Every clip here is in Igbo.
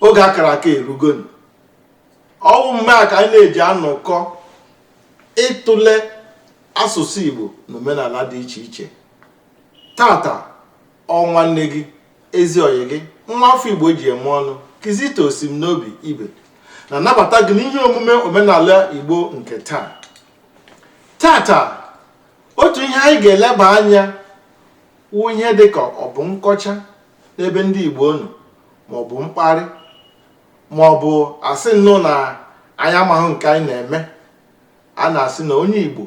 oge a kara aka erugonu ọ wụ mme a ka anyị na-eji anọkọ ịtụle asụsụ Igbo na omenala dị iche iche tata ọ nwanne gị ezi ọyị gị nwa afọ Igbo ji eme ọnụ Kizito Osimnobi Ibe na-anabata gị n'ihe omume omenala Igbo nke taa tata otu ihe anyị ga-eleba anya wụ ihe dịka ọ bụ nkọcha n'ebe ndị Igbo nọ maọbụ mkparị maọbụ a sị nnọọ na anyị amaghị nke anyị na-eme a na-asị na onye Igbo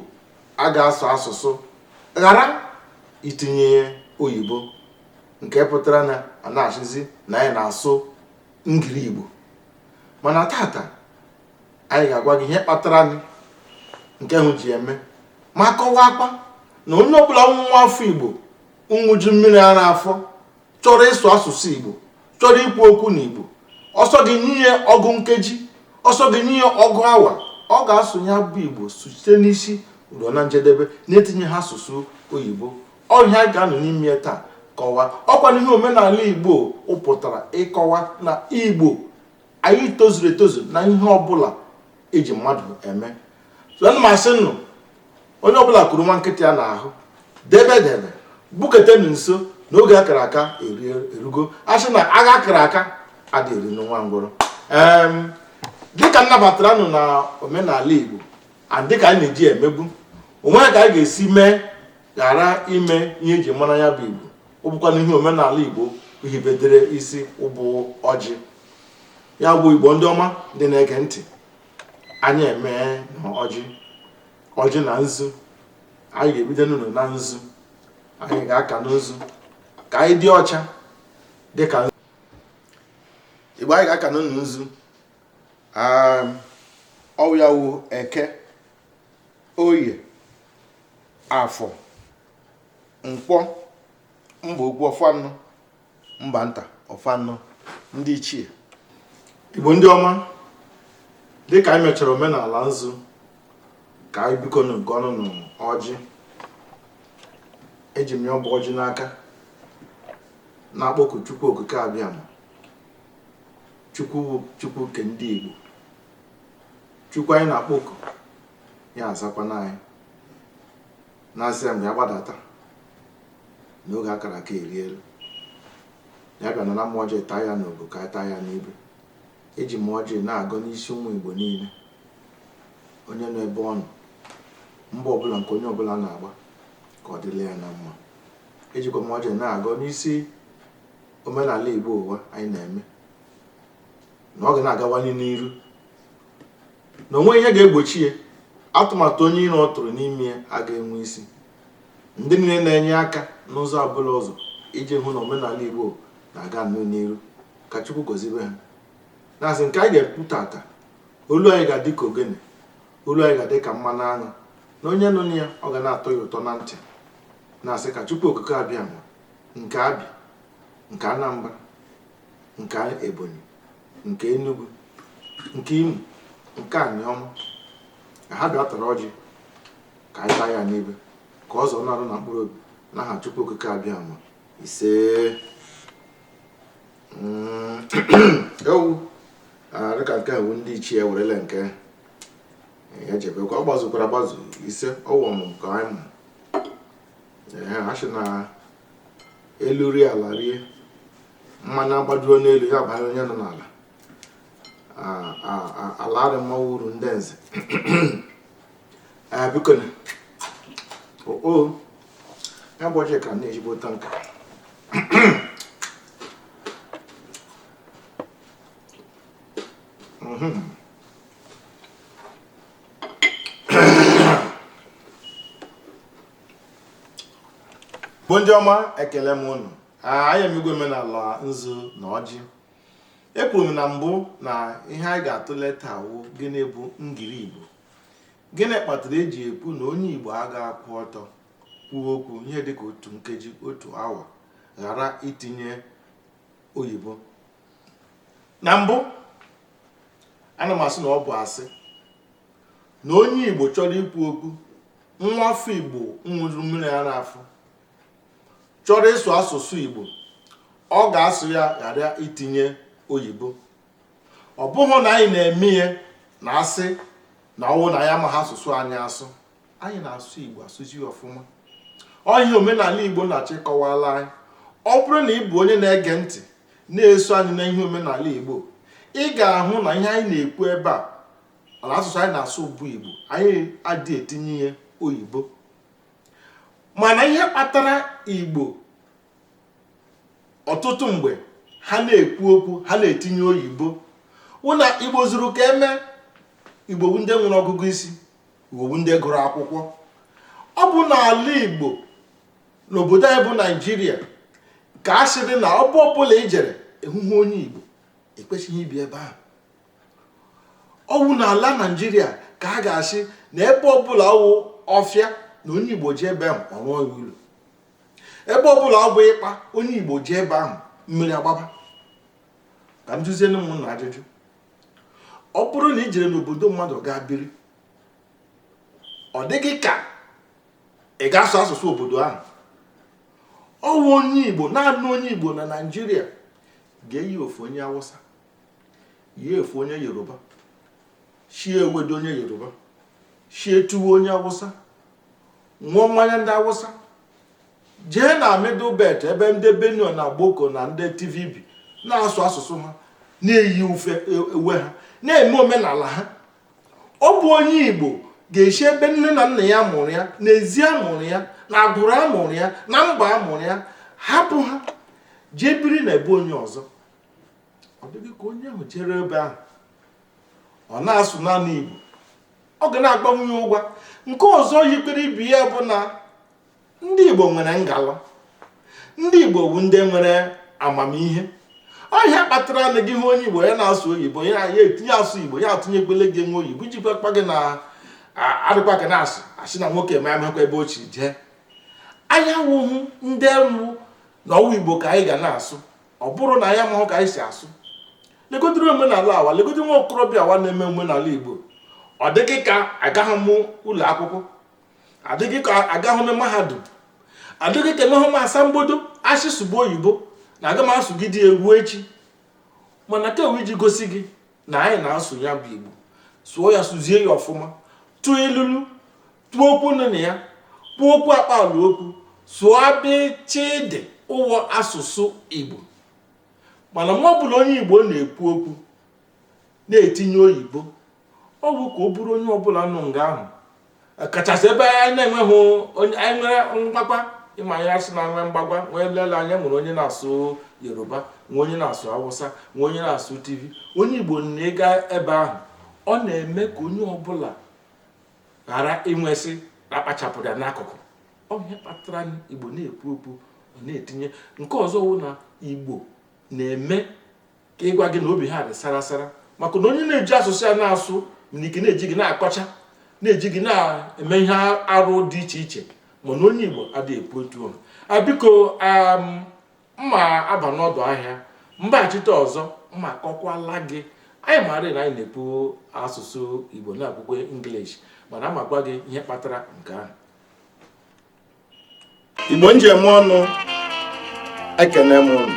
a ga-asụ asụsụ ghara itinye oyibo nke pụtara na a na-asịzi na anyị na-asụ ngiri Igbo mana tata anyị ga-agwa gị ihe kpataranụ nke ahụ ji eme ma kọwaakwa na onye ọbụla nwa afọ Igbo nwụju mmiri ara afọ chọrọ ịsụ asụsụ igbo chọrọ ikwu okwu n'igbo ọ sọ gị nye ya ọgụ nkeji ọ sọ gị nye ya ọgụ awa ọ ga-asụ ya bụ igbo site n'isi ruo na njedebe na-etinyeghị asụsụ oyibo ọ ihe a ga-anọ n'ime ya taa kọwaa ọ kwanụ ihe omenala igbo pụtara ịkọwa na igbo anyị tozuru etozu na ihe ọbụla e ji mmadụ eme so ana m asị nnọọ onye ọbụla kuru nwa nkịta ya n'ahụ debe debe buketenu nso na oge a kara aka erugo a sị na agha a kara aka adịghị eri nwa ngwụrọ dịka m nabatara ụnụ na omenala Igbo dịka anyị na-eji emebu o nwee ka anyị ga-esi mee ghara ime ihe e ji mara ya bụ Igbo ọ bụkwanụ ihe omenala Igbo hibedere isi ọ bụ ọjị ya bụ Igbo ndị ọma ndị na-ege ntị anyị meenụ ọjị ọjị na nzu anyị ga-ebido nnọọ na nzu anyị ga-akanụ nzu ka anyị dị ọcha dị ka Igbo anyị ga-aka nnọọ nzu um, ọ wụ ya wụ eke oye afọ nkwọ mba ukwu ọ fa anọ mba nta ọ fa anọ ndị ichie igbo ndị ọma dịka anyị mechara omenala nzu ka anyị biko na nke ọnụ nụ ọjị eji m ya bụ ọjị n'aka na-akpọku chukwu okike abịama chukwu chukwu nke ndị igbo chukwu anyị na-akpọku ya azakwanụ anyị na-asị ya mgbe ya gbadata n'oge akara aka eri elu ya bịa naa m ọjị taa ya n'obu ka a taa ya n'ibe eji m ọjị na-agọ n'isi ụmụ igbo niile onye nọ ebe ọ nọ mba ọbụla nke onye ọbụla na-agba ka ọ dịla ya na mma ejikwa m ọjị na-agọ n'isi omenala igbo ụwa anyị na-eme na ọ ga na-agawanye n'iru na onweghị ihe ga-egbochi ya atụmatụ onye iro ọ tụrụ n'ime ya aga enwe isi ndị niile na-enye aka n'ụzọ ọbụla ụzọ iji hụ na omenala igbo na-aganụ n'iru ka chukwu gozibe ha na-asị nke anyị ga-ekwu tata olu anyị ga-adị ka ogene olu anyị ga-adị ka mmanụ aṅụ na onye nụrụ ya ọ ga na-atọ ya ụtọ na ntị na-asị ka chukwu okike abịama nke abịa nke anambra nke ebonyi nke Enugu nke Imo nke Aniọma ka ha bịa tara ọjị ka anyị taa ya n'ibe ka ọ zọọ n'arụ na mkpụrụ obi n'aha Chukwu Okike Abịama ise mm, ewu ah, dịka nke a bụ ndị ichie werele nke ya jebekwa ọ gbazukwara agbazu ise ọwụ ọmụmụ ka anyị mụ a sị na elu rie ala rie mmanya agbaduo n'elu ya banye onye nọ n'ala ala arị mma wụ uru ndị nze biko na o ya bụ ọjị ka na-ejigbo tanka Mm-hmm. igbo ndị ọma ekele m unu anyị emegwo omenala nzu na ọjị ekwuru m na mbụ na ihe anyị ga-atụle taa wụ gịnị bụ ngiri igbo gịnị kpatara eji ekwu na onye igbo aga akwụ ọtọ kwuo okwu ihe dịka otu nkeji otu awa ghara itinye oyibo na mbụ ana m asị na ọ bụ asị na onye igbo chọrọ ikwu okwu nwa afọ igbo ṅụrụ mmiri ara afọ chọrọ ịsụ asụsụ igbo ọ ga-asụ ya ghara itinye oyibo ọ bụghị na anyị na-eme ihe na asị na ọwụ na anyị amaghị asụsụ anyị asụ anyị na-asụ igbo asụzi ọfụma ọ ihe omenala igbo na-achọ ịkọwala anyị ọ bụrụ na ị bụ onye na-ege ntị na-eso anyị na ihe omenala Igbo ị ga-ahụ na ihe anyị na-ekwu ebe a na asụsụ anyị na-asụ bụ Igbo anyị adị etinye ihe oyibo mana ihe kpatara Igbo ọtụtụ mgbe ha na-ekwu okwu ha na-etinye oyibo wụ na Igbo zuru ka e mee Igbo bụ ndị nwere ọgụgụ isi Igbo bụ ndị gụrụ akwụkwọ ọ bụ n'ala Igbo n'obodo anyị bụ naijiria ka a sịrị na ebe ọbụla ị jere ị hụhụ onye igbo e kwesịghị ibi ebe ahụ ọ wụ na ala naijiria ka a ga-asị na ebe ọbụla wụ ọfịa na onye igbo jee ebe ahụ ọ rụọ ya ụlọ ebe ọbụla ọ bụ ikpa onye igbo jee ebe ahụ mmiri agbaba ka m jụzienụ ụmụnna ajụjụ ọ bụrụ na i jere n'obodo mmadụ gaa biri ọ dịghị ka ị ga-asụ asụsụ obodo ahụ ọ wụ onye igbo naanị onye igbo na naijiria ga-eyi efe onye awụsa yie efe onye yoruba shie ewedu onye yoruba shie tuwo onye awụsa ṅụọ mmanya ndị awụsa jee na middle belt ebe ndị benue na gboko na ndị tiv bi na-asụ asụsụ ha na-eyi ufe e, uwe ha na-eme omenala ha ọ bụ onye igbo ga-esi ebe nne na nna ya mụrụ ya na ezi a mụrụ ya na agbụrụ a mụrụ ya na mba a mụrụ ya hapụ ha jee biri na ebe onye ọzọ ọ dịghị ka onye ahụ jere ebe ahụ ọ na-asụ naanị igbo ọ ga na-agbanwe ya ụgwa nke ọzọ yikwere ibe ya bụ na ndị Igbo nwere ngala ndị Igbo wụ ndị nwere amamihe ọ ihe kpatara na gị hụ onye Igbo ya na-asụ oyibo ya ya etinye asụ Igbo ya atụnyekwele gị nwa oyibo iji gwakwa gị na adịkwa gị na-asụ a sị na nwoke m amakwa ebe o chi jee anyị awụhụ ndị wụ na ọ wụ Igbo ka anyị ga na-asụ ọ bụrụ na anyị amahụ ka anyị si asụ legodiri omenala awa legodiri nwa okorobịa awa na-eme omenala Igbo ọ dịghị ka agaghị m ụlọ akwụkwọ adịghị ka agahụ m mahadum adịghị ka enwehụ m asambodo a sị sụba oyibo na aga m asụgide eruo echi mana ka e wee ji gosi gị na anyị na-asụ ya bụ igbo sụọ ya sụzie ya ọfụma tụọ ilulu tụọ okwu inu na ya kwuo okwu akpaala okwu sụọ abịchịdị ụwọ asụsụ igbo mana mgbe ọbụla onye igbo na-ekwu okwu na-etinye oyibo ọ bụ ka ọ bụrụ onye ọbụla nọ nga ahụ kachasị ebe anyị na-enweghị onye anyị nwere mgbagwa ị ma a sị na e nwee mgbagwa nwee lele anya nwere onye na-asụ yoruba nwee onye na-asụ awụsa nwee onye na-asụ tiv onye igbo na-aga ebe ahụ ọ na-eme ka onye ọbụla ghara iwe sị na a kpachapụrụ ya n'akụkụ ọ bụ ihe kpatara na igbo na-ekwu okwu ọ na-etinye nke ọzọ wụ na igbo na-eme ka ịgwa gị na obi ha dị sara sara maka na onye na-eji asụsụ ya na-asụ nwere ike na-eji gị na-akọcha na-eji gị na-eme ihe arụ dị iche iche mana onye Igbo adịghị ekwu otu ahụ biko um, m ma aba n'ọdụ ahịa m bịaghachite ọzọ m ma akọkwala gị anyị maara na anyị na-ekwu asụsụ Igbo na-ekwukwa English mana a ma agwa gị ihe kpatara nke ahụ igbo ndeeme nụ ekene m ụnụ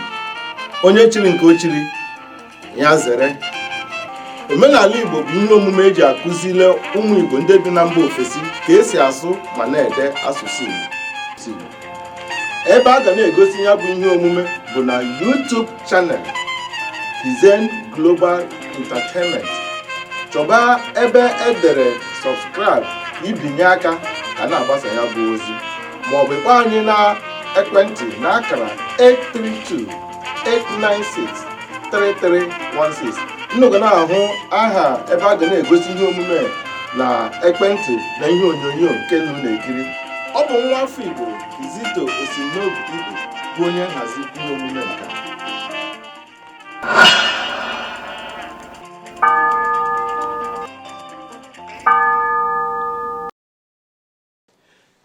onye chiri nke o chiri ya zere omenala igbo bụ ihe omume eji akụzile ụmụ igbo ndị bi na mba ofesi ka esi asụ ma na-ede asụsụ igbo ebe a ga na-egosi ya bụ ihe omume bụ na YouTube channel Kizen Global Entertainment chọba ebe edere subscribe ibinye aka ka na-agbasa ya bụ ozi maọbụ ịkpọ anyị na ekwentị na akara 832 896 3316 unu ga na-ahụ aha ebe a ga na-egosi ihe omume na ekwentị na ihe onyonyo nke unu na-ekiri ọ bụ nwa afọ Igbo Kizito Esimnobi Igbo bụ onye nhazi ihe omume nke a.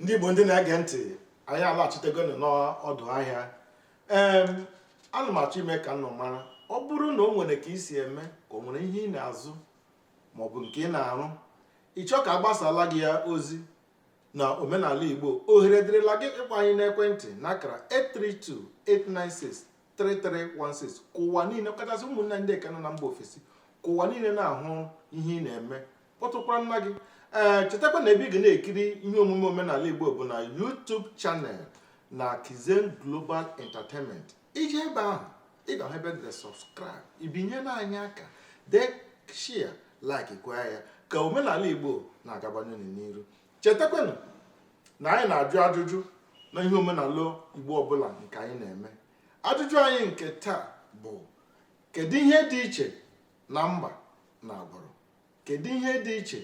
ndị igbo ndị na-ege ntị anyị alaghachitegonụ n'ọdụ ahịa ee ana m achọ ime ka unu mara ọ bụrụ na o nwere ka i si eme ka o nwere ihe ị na-azụ maọbụ nke ị na-arụ ị chọọ ka a gbasala gị ya ozi na omenala igbo ohere dịrịla gị ịkpọ anyị n'ekwentị n'akara 832-896-3316 ka ụwa niile kachasị ụmụnne ndị nke nọ na mba ofesi ka ụwa niile na-ahụ ihe ị na-eme kpọtụkwaranụ gị ee chetakwa na ebe ị ga na-ekiri ihe omume omenala igbo bụ na YouTube channel na Kizen Global Entertainment i jee ebe ahụ ị ga-ahụ ebe e dere subscribe ibinyela anyị aka dee share like kwaa ya ka omenala igbo na-agabanye n'iru chetakwanụ na anyị na-ajụ ajụjụ na ihe omenala igbo ọbụla nke anyị na-eme ajụjụ anyị nke taa bụ kedu ihe dị iche na mba na agbụrụ kedu ihe dị iche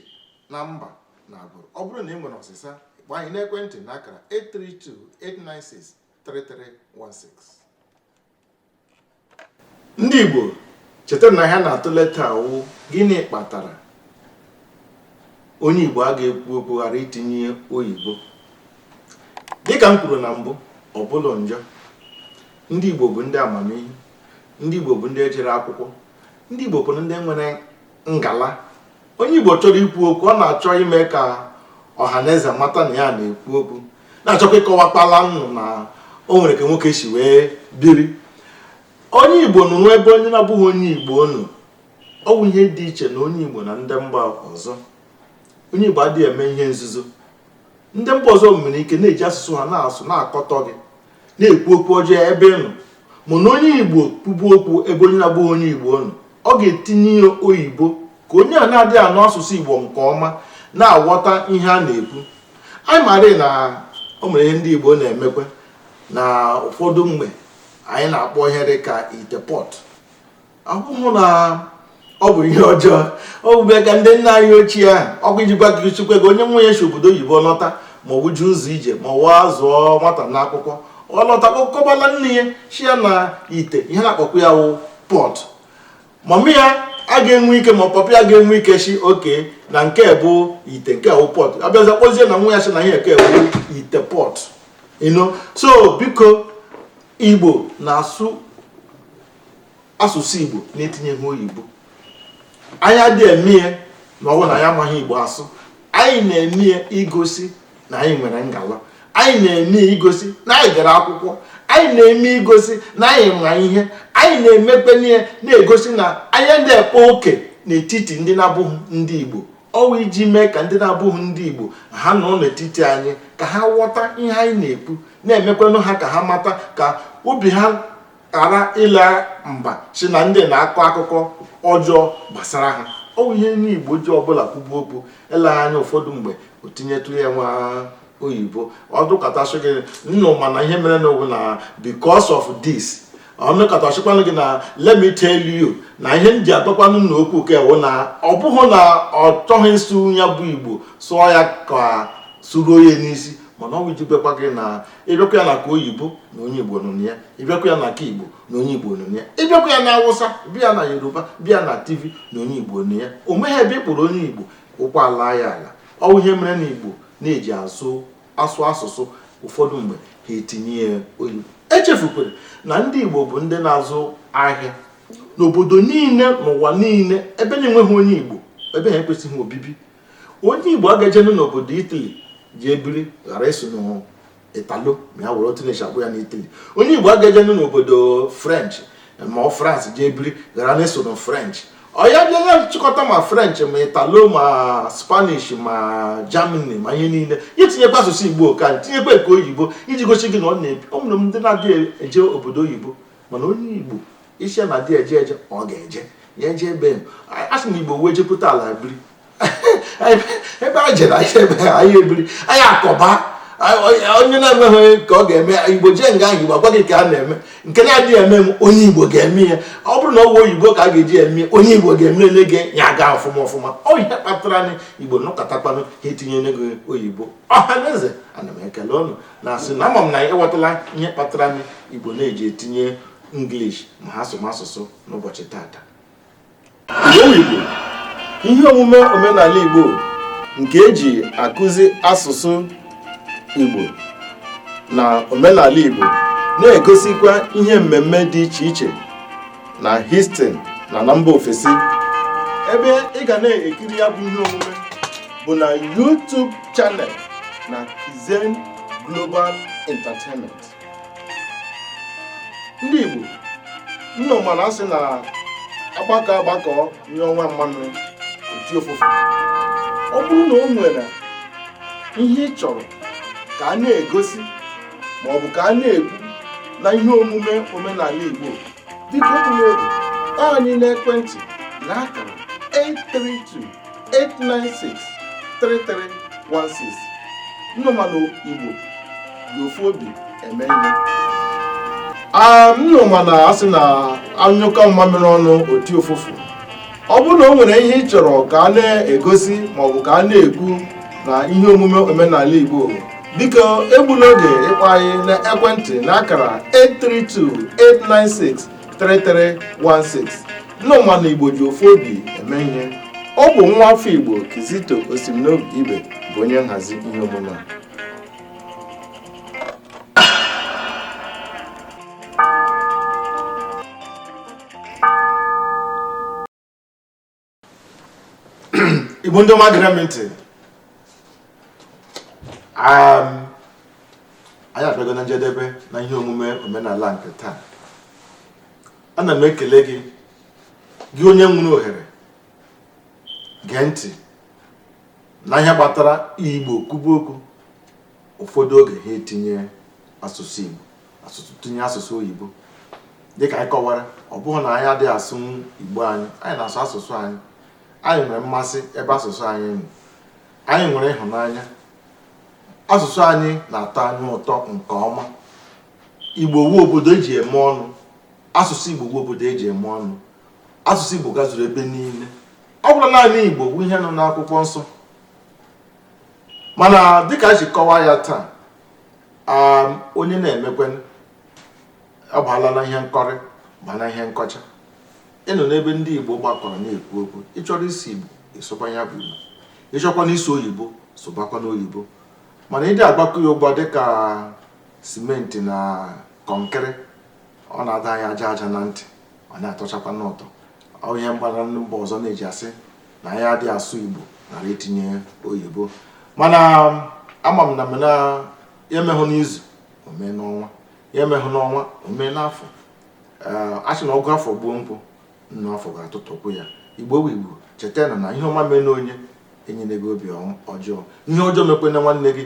na mba na agbụrụ ọ bụrụ na ị nwere ọsịsa kpọọ anyị n'ekwentị n'akara 832 896 3316 ndị Igbo cheta na ihe a na-atụle taa wụ gịnị kpatara onye Igbo a ga-ekwu okwu ghara itinye oyibo dịka m kwuru na mbụ ọ bụla njọ ndị Igbo bụ ndị amamihe ndị Igbo bụ ndị jere akwụkwọ ndị Igbo bụ ndị nwere ngala onye Igbo chọrọ ikwu okwu ọ na-achọ ime ka ọha na eze mata na ya na-ekwu okwu na-achọkwa ịkọwakpala nnọọ na o nwere ka nwoke si wee biri onye Igbo nọrọ ebe onye na-abụghị onye Igbo nọ ọ bụ ihe dị iche na onye Igbo na ndị mba ọzọ onye Igbo adịghị eme ihe nzuzo ndị mba ọzọ nwere ike na-eji asụsụ ha na-asụ na-akọtọ gị na-ekwu okwu ọjọọ ebe ị nọ mana onye igbo kwube okwu ebe onye na-abụghị onye igbo nọ ọ ga-etinye ya oyibo ka onye a na-adịghị anụ asụsụ igbo nke ọma na-aghọta ihe a na-ekwu anyị maara na o nwere ihe ndị igbo na-emekwa na ụfọdụ mgbe anyị na-akpọ ihe dị ka ite pot ọ bụghị na ọ bụ ihe ọjọọ ọ bụ bịa ka ndị nna anyị ochie ahụ ọ bụ ijikwa ka chukwe gị onye nwa ya si obodo oyibo lọta ma ọ wụ ụzọ ije ma ọ wụ a zụọ nwata na akwụkwọ ọ lọta kọbara nne ya sị ya na ite ihe a na-akpọkwa ya wụ pot mama ya a ga-enwe ike ma papa ya ga-enwe ike sị okay na nke bụ ite nke wụ pot a bịazie kpọzie na nwa ya sị na ihe nke wụ ite pot you know so biko igbo na-asụ asụsụ Igbo na-etinye ihe oyibo anyị adị eme ya na ọ wụ na anyị amaghị Igbo asụ anyị na-eme ya igosi na anyị nwere ngala anyị na-eme ya igosi na anyị gara akwụkwọ anyị na-eme igosi na anyị ma ihe anyị na-emekwanụ ya na-egosi na anyị adị akpa oke n'etiti ndị na-abụghị ndị Igbo ọ wụ iji mee ka ndị na-abụghị ndị Igbo ha nọ n'etiti anyị ka ha ghọta ihe anyị na-ekwu na-emekwanụ ha ka ha mata ka obi ha ghara ịda mba sị na ndị a na-akọ akụkọ ọjọọ gbasara ha ọ bụ ihe onye igbo ji ọbụla kwube okwu eleghị anya ụfọdụ mgbe o tinyetụ ya nwa oyibo ọ dụkọtasị gị nnọọ mana ihe mere n'ọ wụ na because of this ọnụkọtachikwanụ gị na let me tell you na ihe m ji agwakwanụ na okwu nke a wụ na ọ bụghị na ọ chọghị ịsụ ya bụ igbo sụọ ya ka sụruo ya n'isi mana ọ bụ iji gwakwa gị na ị bịakwa ya na nke oyibo na onye igbo nọ na ya ị bịakwa ya na nke igbo na onye igbo nọ na ya ị bịakwa ya na awụsa bịa na yoruba bịa na tiv na onye igbo nọ na ya o nweghị ebe ị kpụrụ onye igbo ụkwụ ala ya ala ọ wụ ihe mere na igbo na-eji asụ asụ asụsụ ụfọdụ mgbe ha etinye ya oyibo echefukwere na ndị igbo bụ ndị na-azụ ahịa n'obodo niile n'ụwa niile ebe na-enweghị onye igbo ebe ahụ ekwesịghị obibi onye igbo agajenu n'obodo itali ji ebiri ghara ịsụ n'italo ma ya were otu na-esi akpọ ya n'itali onye igbo agajenu n'obodo french ma ọ france ji ebiri ghara na-asụ na french ọ ya bịa chịkọta ma french ma italo ma spanish ma germany ma ihe niile ya tinyekwa asụsụ igbo ka tinyekwa nke oyibo iji gosi gị na ọ na-ebi ọ nwere ndị na-adịghị eje obodo oyibo mana onye igbo ị sị na adị eje eje ọ ga-eje ya eje ebe a sị na igbo wee jepụta ala biri ebe a jere anyị ebe anyị ebiri anyị akọba onye na-enweghị ka ọ ga-eme igbo jee nga ahụ igbo agwa gị ka a na-eme nke na-adịghị eme eme onye igbo ga-eme ya ọ bụrụ na ọ bụ oyibo ka a ga-eji eme onye igbo ga-emere gị ya aga ọfụma ọfụma ọ ihe kpatara na igbo nọkọtakwanụ ha etinye okwu oyibo ọha na eze ana m ekele unu na-asị na ama m na ị ghọtala ihe kpatara na igbo na-eji etinye English ma ha sụma asụsụ n'ụbọchị tata Igbo ihe omume omenala Igbo nke eji akụzi asụsụ Igbo na omenala Igbo na-egosikwa ihe mmemme dị iche iche na Houston na na mba ofesi ebe ị ga na-ekiri ya bụ ihe omume bụ na YouTube channel na Kizen Global Entertainment ndị Igbo unu ma na asị na agbakọ agbakọ nye ọnwa mmanụ o ti ofufe ọ bụrụ na o nwere ihe ị chọrọ ka a na-egosi maọbụ ka a na-ekwu na ihe omume omenala Igbo biko atụla egwu ịkpọ anyị n'ekwentị na akara 832-896-3316 unu ma na igbo ji ofu obi eme ihe unu ma na asị na anyụkọ mmamịrị ọnụ o ti ụfụfụ ọ bụrụ na o nwere ihe ị chọrọ ka a na-egosi maọbụ ka a na-ekwu na ihe omume omenala Igbo biko egbula oge ịkpọ anyị na ekwentị na akara 832-896-3316 unu ma na Igbo ji ofu obi eme ihe ọ bụ nwa afọ Igbo Kizito Osimnobi Ibe bụ onye nhazi ihe omume a igbo ndị ọma gere m ntị um, anyị abịago na njedebe na ihe omume omenala nke taa ana m ekele gị gị onye nwere ohere gee ntị na ihe kpatara igbo kwuba okwu ụfọdụ oge ha etinye asụsụ oyibo tinye asụsụ oyibo dịka anyị kọwara ọ bụghị na anyị adịghị asụ igbo anyị anyị na-asụ asụsụ anyị anyị nwere mmasị ebe asụsụ anyị nọ anyị nwere ịhụnanya asụsụ anyị na-atọ anyị ụtọ nke ọma igbo wu obodo eji eme ọnụ asụsụ igbo wu obodo eji eme ọnụ asụsụ igbo gazuru ebe niile ọ bụrụ naanị igbo wu ihe nọ n'akwụkwọ nsọ mana dịka anyị si kọwaa ya taa um, onye na-emekwanụ ọ baala na ihe nkọrị ba na ihe nkọcha ị nọ n'ebe ndị Igbo gbakọrọ na-ekwu okwu ị chọrọ ịsụ Igbo ị sụba ya bụ Igbo ị chọkwanụ ịsụ oyibo sụbakwanụ oyibo mana ịdị agbakọ ya ụgbọ dịka simenti na kọnkịrị ọ na-ada anyị aja aja na ntị ọ na-atọchakwanụ ụtọ ọ ihe mgbara ndị mba ọzọ na-eji asị na anyị adị asụ Igbo nara itinye oyibo mana um, ama m na m na ya emehụ n'izu o mee n'ọnwa ya emehụ n'ọnwa o mee n'afọ eh, a sị na ọgụ afọ gbuo nkwụ nnụ afọ ga-atụtụkọ ya igbo bụ igbo cheta na na ihe ọma meenụ onye enyene gị obi ọjọọ ihe ọjọọ mekwanụ nwanne gị